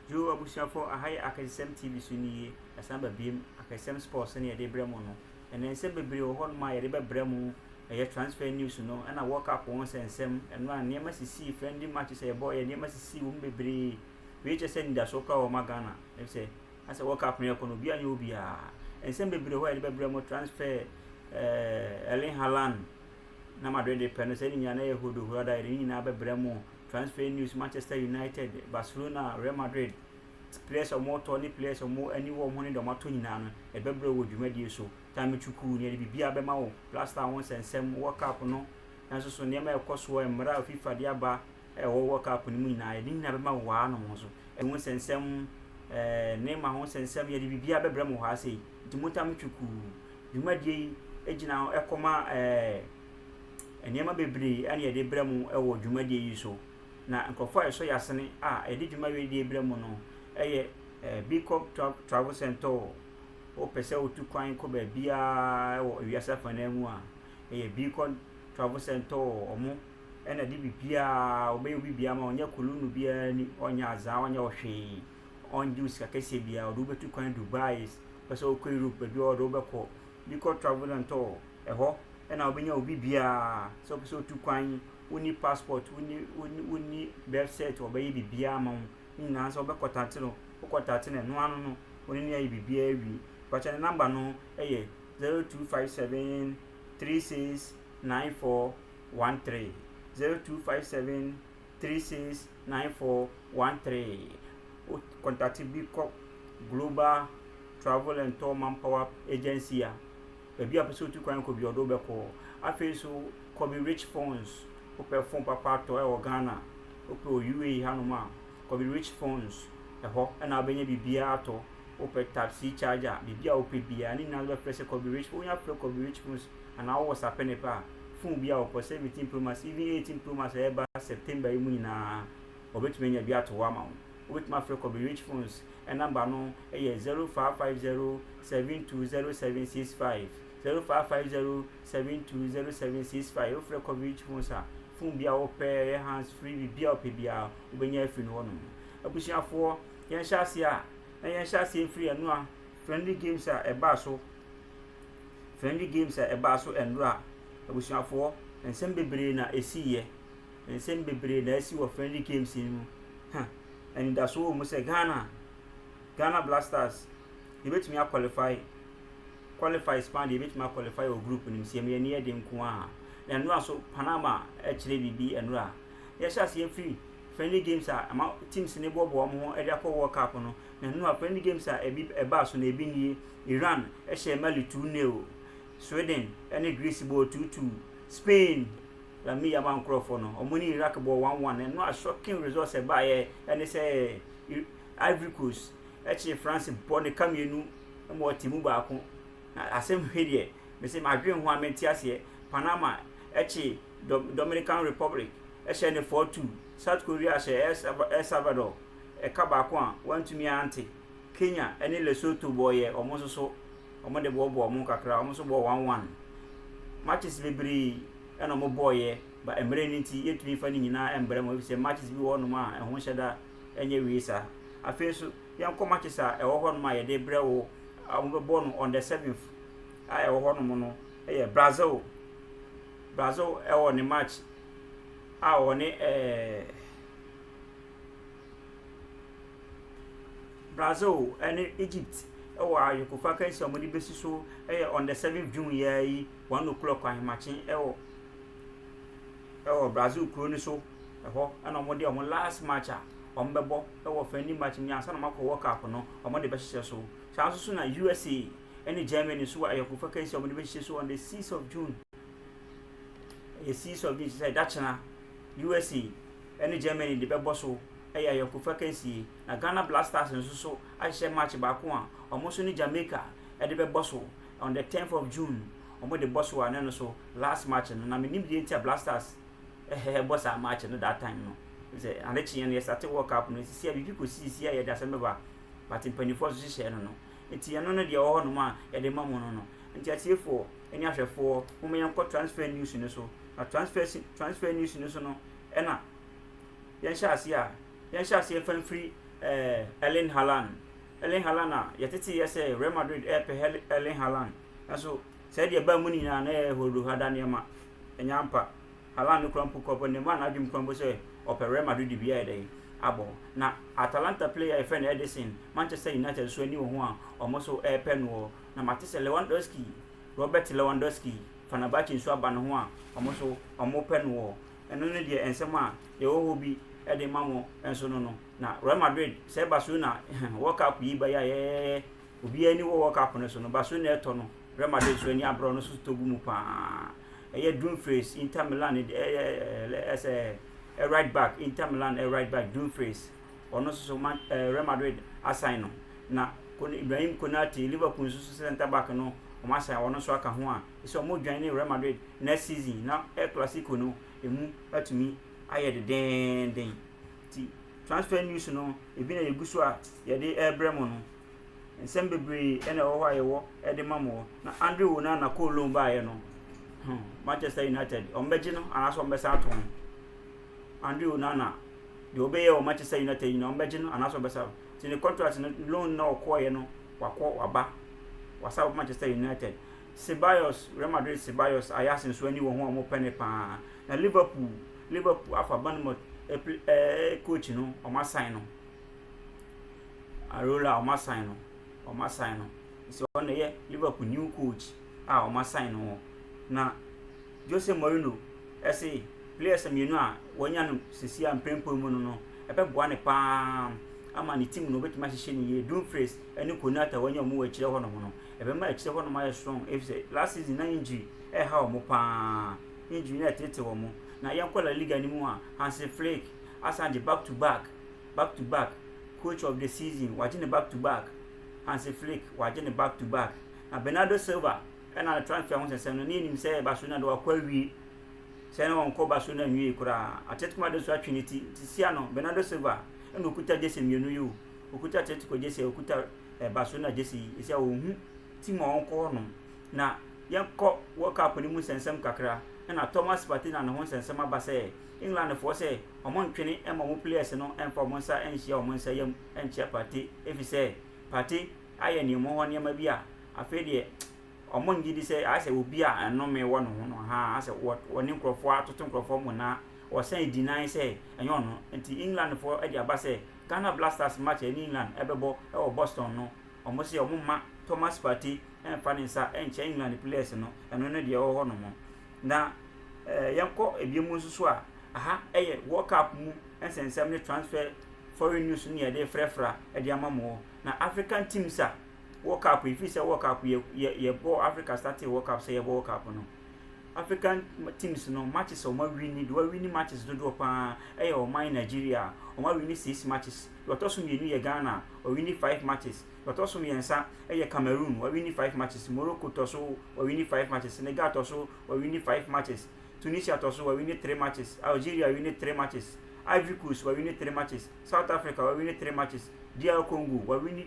Dwo abusuafo aha yɛ akɛsesɛm TV so ni ye ɛsan ba biem akɛsesɛm sports ne yɛde brɛ mo no ɛnɛ nsɛm bebree wɔ hɔnom a yɛde bɛbrɛ mo ɛyɛ transfer news no ɛna world cup ho nsɛnsɛm ɛno a nneɛma sisii friendly matches a yɛbɔɔ yɛ nneɛma sisii wɔ mu bebree wei kyɛ sɛ anidasoɔ koraa wɔ ma Ghana efisɛ asɛ world cup no yɛkɔ no obiara nyɛ obiara nsɛm bebree hɔ a yɛde bɛbrɛ mo transfer ɛɛ Erling Haaland Na Madrid de pɛ no sɛ ne nyinaa na ɛyɛ hodohorada, yɛde ne nyinaa bɛbrɛ mo. Transfer News, Manchester United, Barcelona, Real Madrid, players a wɔretɔ ne players a wɔn ani wɔ wɔn ho ne deɛ wɔatɔ nyinaa no, yɛbɛbrɛ wɔ dwumadie so. Time Chukwu, na yɛde biribiara bɛma wo. Blaster, wo nsɛnsɛm, World Cup no, nanso so nneɛma a ɛkɔ soɔ, mmara a FIFA de aba a ɛwɔ World Cup no mu nyinaa, yɛde ne nyinaa bɛma wo wɔ ha nom nso. Ɛwɔ ho nsɛnsɛm, ɛɛ, Neymar ho nsɛnsɛm, yɛde biribiara bɛbrɛ mo wɔ ha sei. Nti mo Time Chukwu. Dwumadie yi gyina hɔ kɔma nneɛma bebree a yɛde brɛ mo wɔ dwumadie yi so. Na nkurɔfoɔ a ɛsɔ yɛn asene a yɛde dwuma wei deɛ brɛ mo no yɛ Bicop Travel Centre. Wopɛ sɛ wotu kwan kɔ baabiara wɔ wiase afanan mu a, ɛyɛ Bicop Travel Centre wɔn na ɛde biribiara, wɔbɛyɛ wo biribiara ma wo. Wɔnyɛ kolonno biara ni, wɔnyɛ azaa, wɔnyɛ wo hwee. ɔngye wo sika kɛseɛ biaa ɔde wo bɛtu kwan Dubai wopɛ sɛ wokɔ Europe baabi a ɔde wo bɛkɔ bi kɔ travel and tour ɛhɔ na wobɛnya obi biaa sɛ wopɛ sɛ wotu kwan wonni passport wonni wonni wonni birth cert ɔbɛyɛ biribiaa ma wo ne nyinaa sɛ wobɛ contact no wo contact no ɛno ano no wone no ayɛ biribiaa awie mpakyɛ ne number no ɛyɛ zero two five seven three six nine four one three zero two five seven. three six nine four one three wo kɔntakte bi kɔ global travel and tour manpower agency a baabi a wopɛ sɛ wotu kwan kɔ biara ɔde wo bɛkɔ afei nso kɔbe rich phones wopɛ phone papa atɔ wɔ Ghana a wopɛ wɔ UAE hanom a kɔbe rich phones ɛhɔ na wobɛnya biribiara atɔ wopɛ type C charger biribi a wopɛ biara ne nyinaa wobɛfrɛ sɛ kɔbe rich phones wonya frɛ kɔbe rich phones anaa wowɔ sapenep a, phone bi a wɔpɔ, 17 pro max, even 18 pro max a ɛreba September yi mu nyinaa, wɔbɛtumi anya bi ato hɔ ama wo. Wobɛtumi afrɛ Kobe Rich Phones, number no yɛ 0550 720765, 0550 720765. Wofrɛ Kobe Rich Phones a, phone bi a wopɛ, ɛyɛ hands free, biribi a wopɛ biara, wobɛnya afiri no hɔnom. Abusuafoɔ, yɛnhyɛ aseɛ a, na yɛnhyɛ aseɛ mfiri ɛno a, friendly games a ɛbaa so, Friendly games a ɛbaa so nnora a, abusuafoɔ, nsɛm bebree na ɛsiiɛ. Nsɛm bebree na asi wɔ friendly games yi mu. Ha, anidasoɔ wɔ mu sɛ Ghana, Ghana Black Stars, yɛbɛtumi a qualify, qualify paa deɛ yɛbɛtumi a qualify wɔ group no mu sɛ yɛn ani yɛ den nko ara. Nnora nso, Panama kyerɛ biribi nnora. Yɛhyɛ aseɛ firi friendly games a ɛma teams no boaboa wɔn ho de akɔ World Cup no, nnora friendly games a ɛbi ɛbaa so na ɛbi nie. Iran hyɛɛ Mali 2 nil, Sweden ne Greece bɔɔ 2 2, Spain Lamine Yamal nkorɔfoɔ no wɔn ne Iraq bɔɔ 1 1, ɛno a shocking result a ɛbaeɛ ne sɛ Ivory Coast kyee France bɔ ne ka mmienu ma wɔte mu baako, na asɛm he deɛ mese madwen ho a mente aseɛ, Panama kye Dominican Republic hyɛɛ no 4 2, South Korea hyɛɛ El Salvador ka baako a wɔantumi ante. Kenya ne Lesotho bɔ yɛ wɔn nso so wɔn de bɔ bɔ wɔn kakra wɔn nso bɔ one one matches bebree na wɔn bɔ yɛ ba mmerɛ no nti yɛntumi nfa ne nyinaa mbrɛ mo efisɛ matches bi wɔ hɔnom a ɛho nhyɛ da ɛnyɛ wie saa afei nso yɛnkɔ matches a ɛwɔ hɔnom a yɛde brɛ wo a wɔn bɛbɔ no on the seventh a ɛwɔ hɔnom no ɛyɛ Brazil Brazil ɛwɔ ne match a wɔne ɛɛ. Eh, Brazil ne Egypt wɔ ayɔnkofa akansi a wɔde besi so yɛ on the seventh June yi ara yi one o'clock ahemakye wɔ ɛwɔ Brazil kuro no so ɛhɔ ɛna wɔde wɔn last match a wɔbɛbɔ ɛwɔ friendly match mu ansa na wɔakɔ World Cup no wɔde bɛhyehyɛ so saa nso so na USA ɛne Germany nso wɔ ayɔnkofa akansi a wɔde bɛhyehyɛ so on the sixth of June ɛyɛ sixth of June sɛ ɛda kyena USA ɛne Germany de bɛbɔ so. yɛ ayɔnkofa kansie, na Ghana Black Stars nso so ahyehyɛ match baako a wɔn nso ne Jamaica de bɛbɔ so on the tenth of June, wɔn de bɔ so a na ɛno nso last match no, na me nim deɛ nti a Black Stars bɔ saa match no that time no, sɛ ade kyeeɛ no yɛ start World Cup no, sisi a biribi kɔ sisi a yɛde asɛm bɛba, but mpanimfoɔ nso hyehyɛ no no, nti ɛno no deɛ ɛwɔ hɔ nom a yɛde ma mo no no, nti atiefoɔ ɛne ahwɛfoɔ, mo ma yɛn kɔ transfer news no so, na transfer transfer news no so no ɛna. Yɛnhyɛ aseɛ a, yɛnhyɛ aseɛ mfa mfiri ɛɛ Erling Haaland. Erling Haaland a yɛtetee yɛ sɛ Real Madrid ɛɛpɛ Hel Erling Haaland. Nanso sɛ deɛ ɛbaa mu no nyinaa na ɛyɛ horohada nneɛma. Ɛnyɛ ampa. Haaland no koraa mpo kura mpo Neymar n'adwene kura mpo sɛ ɔpɛ Real Madrid bi ayɛ dɛn abɔ. Na Atalanta player a yɛfrɛ no Ederson, Manchester United nso ani wɔ ho a wɔn nso ɛɛpɛ noɔ. Na mate sɛ Lewandowski, Robert Lewandowski, Fenerbahce nso aba ne ho a wɔn nso wɔpɛ noɔ. Ɛno ne deɛ nsɛm a yɛwɔ hɔ bi de ma mo nso no no. Na Real Madrid, sɛ ɛba so na World Cup yi ba yayɛyɛyɛ, obiara ani wɔ World Cup no so no, ba so na ɛtɔ no, Real Madrid nso ani abrɛ, ɔno nso tɔ gu mu paa. Ɛyɛ Dumfries, Inter Milan, ɛyɛ ɛsɛ right back, Inter Milan right back Dumfries, ɔno nso so Man, eh, Real Madrid asan no. Na Ibrahim Konate, Liverpool nso so centre back no, wɔn asan, ɔno nso aka ho a, sɛ wɔredwan ne Real Madrid next season na El Clasico no emu atumi ayɛ dendenden. Nti transfer news no ebi na yɛgu so a yɛde rebrɛ mo no. Nsɛm bebree na ɛwɔ hɔ a yɛwɔ de ma mo. Na Andre Onana kɔɔ loan baeɛ no, hmm, Manchester United wɔbɛgye no anaasɛ wɔbɛsan ato ho. Andre Onana deɛ wɔbɛyɛ wɔ Manchester United yi na wɔbɛgye no anaasɛ wɔbɛsan nti ne contract no loan na ɔkɔɔeɛ no wakɔ waba wasa wɔ Manchester United. Ceballos, Real Madrid Ceballos, Ajax nso ani wɔ ho a wɔpɛ no paa. Na Liverpool, Liverpool afa Bournemouth ɛpl ɛɛ coach no, wɔasan no. Areola wɔasan no, wɔasan no. Nso ɔno na ɛyɛ Liverpool new coach a wɔasan no. Na Jose Mourinho ɛse players mmienu a wɔanya no sisi a mprempren mu no no ɛbɛboa no paa ama ne team no obetumi ahyehyɛ no yie. Dumfries ne Konate a wɔanya wɔn wɔ akyire hɔnom no ɛbɛma akyire hɔ nom ayɛ strong efisɛ last season na injury ɛreha wɔn paa, injury na ɛtetete wɔn. Na yɛnkɔ La Liga no mu a, Hansi Flick asan gye back to back, back to back coach of the season, wagye ne back to back, Hansi Flick wagye ne back to back. Na Bernardo Silva ɛna ne transfer ho sɛnsɛm no, ne yɛnim sɛ Barcelona de wakɔ awie, sɛ ne wɔnkɔ Barcelona nwie koraa, Atletico Madrid nso atwe ne ti, nti sia no Bernardo Silva ɛna okuta gyese mmienu yi o, okuta Atletico gyese a okuta ɛba so na gyese yi ɛsɛ ɔhu ti mu a ɔnkɔ hɔ nom na yɛnkɔ World Cup no mu nsɛnsɛm kakra ɛna Thomas Partey na ne ho nsɛnsɛm aba sɛ England foɔ sɛ ɔmo ntwene ɛma ɔmo players no ɛmfa ɔmo nsa ɛnhyia ɔmo nsa yam ɛnkyia Partey ɛfisɛ Partey ayɛ ne ɔmo hɔ nneɛma bi a afei deɛ ɔmo ngye di sɛ ayɛ sɛ obi a ɛnome wɔ ne ho no haa ayɛ sɛ wɔ wɔne nkorɔfoɔ atoto nkorɔfoɔ mo na wɔsan ɛdi nan sɛ ɛnyɛ ɔno nti England foɔ ɛde aba sɛ Ghana Blasters match a ɛne England bɛbɔ wɔ Boston no, wɔse wɔmma Thomas Partey mmfa ne nsa nkyɛ England players no, ɛno ne deɛ ɛwɔ hɔ nom. Na yɛnkɔ ebiem nso so a, aha yɛ World Cup mu nsɛnsɛm ne transfer foreign news ne yɛde refrɛfra de ama mo wɔ. Na African teams a World Cup, ɛfiri sɛ World Cup yɛ yɛbɔ Africa startee World Cup sɛ yɛbɔ World Cup no. African teams no matches a wɔn awini deɛ wɔn awini matches dodoɔ paa ɛyɛ ɔman Nigeria wɔn awini six matches deɛ ɔtɔ so mmienu yɛ Ghana wɔn awini five matches deɛ ɔtɔ so mmiɛnsa ɛyɛ Cameroon wɔn awini five matches Morocco tɔ so wɔn awini five matches Senegal tɔ so wɔn awini five matches Tunisia tɔ so wɔn awini three matches Algeria wɔn awini three matches Ivory Coast wɔn awini three matches South Africa wɔn awini three matches DR Congo wɔn awini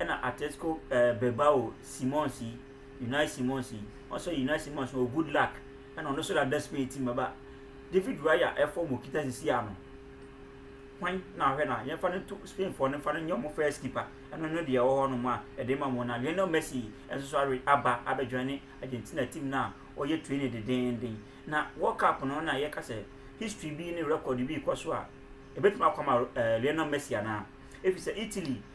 Ɛna Atletico eh, Bilbao Simons yi, Unai Simons yi. Wɔn sɛ Unai Simons wɔ good luck. Ɛna ɔno nso dada Spain team bɛba. David Raya ɛfɔ mo kita sisi ano. Hwan na ahwɛ na yɛmfa no to Spain fɔ no mfa no nyɛ wɔn first keeper. Ɛno no deɛ ɛwɔ hɔ nom a ɛde ma mo na Lionel Messi nso so awe aba abɛdwan ne Argentina team no a ɔyɛ training dedeenden. Na World Cup no na yɛka sɛ history bi ne record bi rekɔ so a ɛbɛtumi akɔ ama eh, Lionel Messi anaa? Ɛfiri sɛ Italy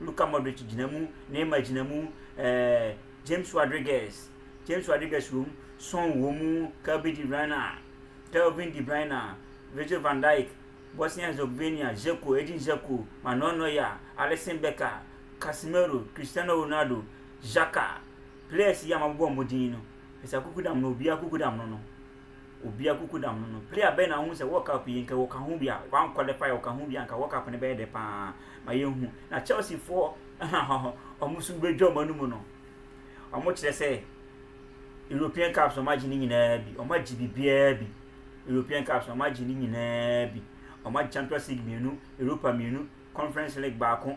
Luka Modric gyina mu, Neymar gyina mu, eh, James Rodriguez, James Rodriguez wɔ mu, Son wɔ mu, Kevin De Bruyne, Kevin De Bruyne, Virgil van Dijk, Bosnia Herzegovina, Dzeko, Edin Dzeko, Manuel Neuer, Alisson Becker, Casemiro, Cristiano Ronaldo, Xhaka, players yi a mabobɔ wɔn din no, ɛsɛ akukudam no, obiara akukudam no no. Obi akuku da ho no, player bɛn na wohu sɛ World Cup yi nka wɔka ho bi a wanqualify a wɔka ho bi a nka World Cup no bɛyɛ dɛ paa ma yɛahu? Na Chelsea foɔ wɔn nso bɛdwa wɔn anum no, wɔn kyerɛ sɛ European Cups wɔn agye ne nyinaa bi, wɔn agye biribiara bi, European Cups wɔn agye ne nyinaa bi, wɔn agye Champions League mmienu, Europa mmienu, Conference League baako,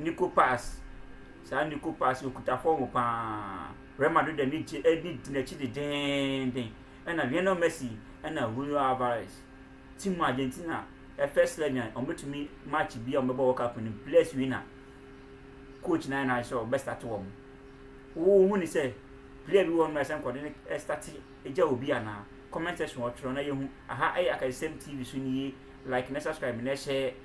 Nico pass saa Nico pass yi ɔkuta fɔm paa Real Madrid ani gye ani di n'akyi dedeenden ɛna Lionel Messi ɛna Julio Alvarez team Argentina ɛ first eleven a wɔbɛtumi match bi a wɔbɛbɔ World Cup no players wei na coach na ɛna sɛ ɔbɛ start wɔn wohu ne sɛ player bi wɔ no ɛsɛ nkɔde ne start gya obi anaa comment section ɔtwerɛ na yɛhu aha ɛyɛ akasɛm tv so nie like na subscribe na ɛhyɛ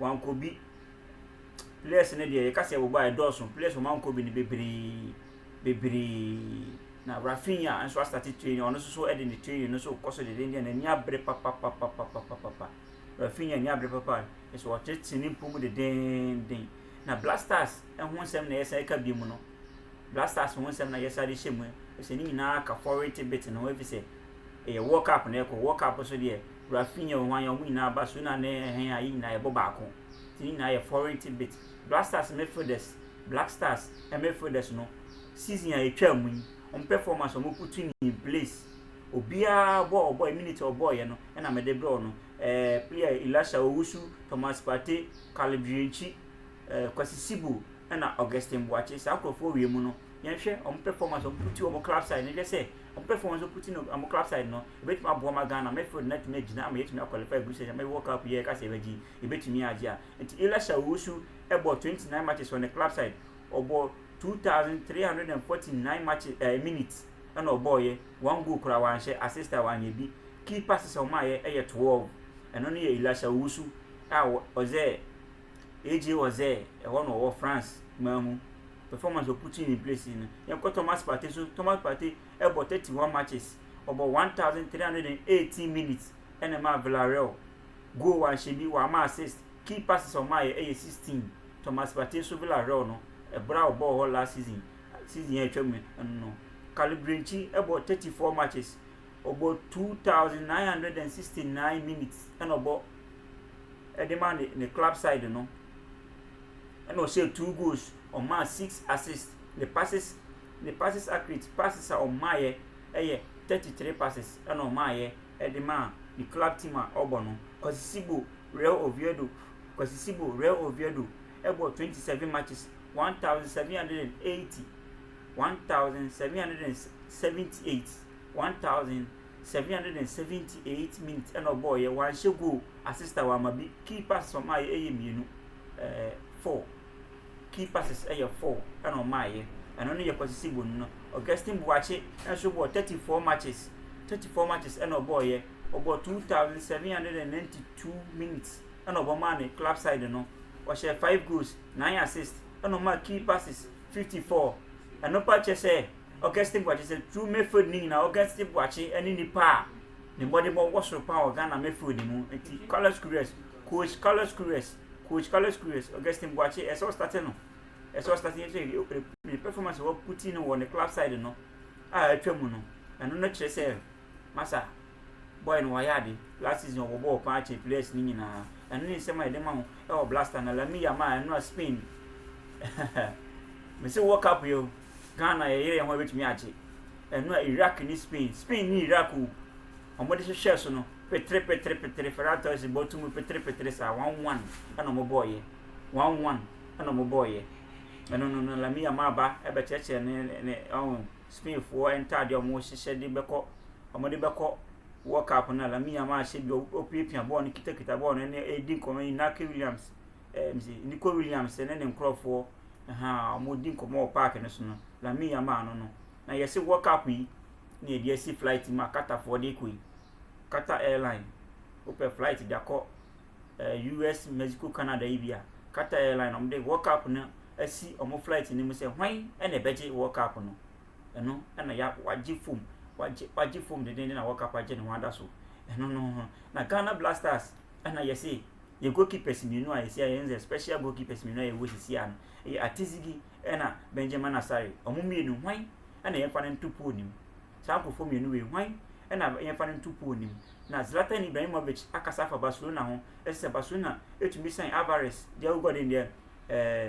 Wankɔ bi. Players no deɛ yɛka sɛ ɛbobɔ a ɛdɔɔso. Players wɔn ankɔ bi no bebree bebree. Na Raphinha nso asate training ɔno nso so de ne training no nso rekɔ so dendeenden n'ani abere papapapapapapa. Raphinha ani abere papa kyerɛ sɛ ɔtete ne mpo mu dendeenden. Na Black Stars ho nsɛm na yɛsan reka bio no. Black Stars ho nsɛm na yɛsan de hyɛ mu. Ɛfiri sɛ ne nyinaa ka foreign tidbit no ho ɛfiri sɛ ɛyɛ world cup na ɛrekɔ. World cup nso deɛ. Rafinha, Ohwanya, wɔn nyinaa ba, Sona ne Erheng a yɛn nyinaa yɛbɔ baako nti ne nyinaa yɛ foreign tidbit. Blackstars midfielders, Black Stars midfielders no season a etwaa mu yi, wɔn performance a wɔputu ni, Blaise, obiara bɔ a ɔbɔe, minute a ɔbɔeɛ no na mede brɛ wo no, eh, player Elisha Owusu, Thomas Partey, Caleb Dwuentwi, eh, Kwasi Sibu na Augustine Boakye. Saa nkurɔfoɔ wie mu no, yɛnhwɛ wɔn performance a wɔputu wɔn club side no, yɛhwɛ sɛ Ɔmpɛfo wɔn nso ko ti no ɔmo club side no ebetumi aboa ma Ghana midfield no atumi agyina ama yɛatumi a qualify group stage ama world cup yi a yɛka sɛ yɛbɛgye yi yɛbɛtumi agye a nti Elisha Owusu bɔɔ 29 matches wɔ ne club side ɔbɔɔ 2349 matches ɛɛ eh, minutes ɛna ɔbɔɔyɛ one goal koraa wanhyɛ assist a wanyɛ bi key passes a ɔmaayɛ ɛyɛ 12 ɛno no yɛ Elisha Owusu a ɔzɛ AJ Oze, ɛhɔ no ɔwɔ France man mu, performance wɔ putting in place no. Yɛnkɔ Thomas Partey so, Thomas Partey bɔ 31 matches, ɔbɔ 1,318 minutes na ɛmaa Villarreal goal wanhyɛ bi, wamma assist, key passes a ɔmaeɛ yɛ 16. Thomas Partey nso Villarreal no, ɛberɛ a ɔbɔɔ hɔ last season, season a atwam no ɛno no. Kalle Brinchi bɔ 34 matches, ɔbɔ 2,969 minutes na ɔbɔ de ma ne ne club side no. Ɛna ɔhyɛɛ two goals, ɔmaa six assists. Ne passes ne passes accurate passes a ɔmaeɛ yɛ thirty three passes ɛna ɔmaeɛ de maa ne club team a ɔbɔ no. Kwasi Sibo Real Oviedo Kwasi Sibo Real Oviedo ɛbɔ twenty seven matches one thousand seven hundred and eighty one thousand seven hundred and seventy eight one thousand seven hundred and seventy eight minutes ɛna ɔbɔɔyɛ wanhyɛ goal asista wama bi key passes ɔmaayɛ ɛyɛ mmienu ɛɛ eh, four key passes ɛyɛ four ɛna ɔmaayɛ ɛno ne yɛ kɔsisi bonu no augustine buakye ɛnso bɔɔ thirty four matches thirty four matches ɛna ɔbɔɔyɛ ɔbɔɔ two thousand seven hundred and ninety two minutes ɛna ɔbɔmaa ne club side no ɔhyɛ five goals nine assists ɛna ɔmaa key passes fifty four ɛno pa kyɛ sɛ. Augustine Boakye sɛ True Mayfield ne nyinaa Augustine Boakye ne nipa a ne mmɔdemmɔ wɔ soro paa wɔ Ghana Mayfield mu nti Carlos Queiroz coach Carlos Queiroz coach Carlos Queiroz Augustine Boakye ɛsɛ ɔstate no ɛsɛ ɔstate sɛ ne performance wɔ puti no wɔ ne club side no a atwa mu no ɛno no kyerɛ sɛ masa boy no wayɛ ade last season ɔbɔ bɔɔl paa kyɛ players ne nyinaa ɛno ne nsɛm a yɛde ma ho ɛwɔ blaster na Lamine Yamal ɛno a Spain mese World Cup yɛ o Ghana yɛ yere yɛn ho a ebetumi agye ɛno a Iraq ne Spain Spain ne Iraq o wɔn de hwehwɛɛ so no petere petere petere Ferran Torres bɔ to mu petere petere saa one one ɛna wɔn bɔɔ yɛ one one ɛna wɔn bɔɔ yɛ ɛno no no Lamine Yamal ba ɛbɛkyerɛkyerɛ ne ne ɔn Spain foɔ ntaadeɛ wɔn hyehyɛ de bɛkɔ wɔn de bɛkɔ World Cup no a Lamine Yamal ahyɛ bi ɔpiapia bɔɔl no kitakita bɔɔl no ɛne ɛredi nkɔmɔ Inaki Williams ɛɛ Nico Williams ne ne nkorɔfoɔ. Ahaa, wɔredi nkɔmmɔ wɔ park no so no, Lamin ya maa no no, na yɛse wɔ cup yi na yɛde asi flight mu a Qatarfoɔ de rekɔ yi. Qatar Airline, wopɛ flight de akɔ eh, US, Mexico, Canada yi bi a, Qatar Airline na wɔde World Cup no asi wɔn flight no mu sɛ hwan na ɛbɛgye World Cup no. Ɛno na ya wagye fom, wagye wagye fom dendenden na World Cup agye ne ho ada so. Ɛno no ho. Na Ghana Blasters Ɛna yɛse yɛ goalkeepers mmienu a yɛsi a yɛn sɛ special goalkeepers mmienu a yɛwɔ sisi a no ɛyɛ Atizigi ɛna Benjamin Asare wɔn mmienu hwan ɛna yɛmfa no nto pool nim saa nkurɔfoɔ mmienu wei hwan ɛna yɛmfa no nto pool nim na Zlatan Ibrahimovic akasa afa Barcelona ho ɛsɛ sɛ Barcelona ɛtumi san Alvarez deɛ wogɔ den deɛ ɛɛ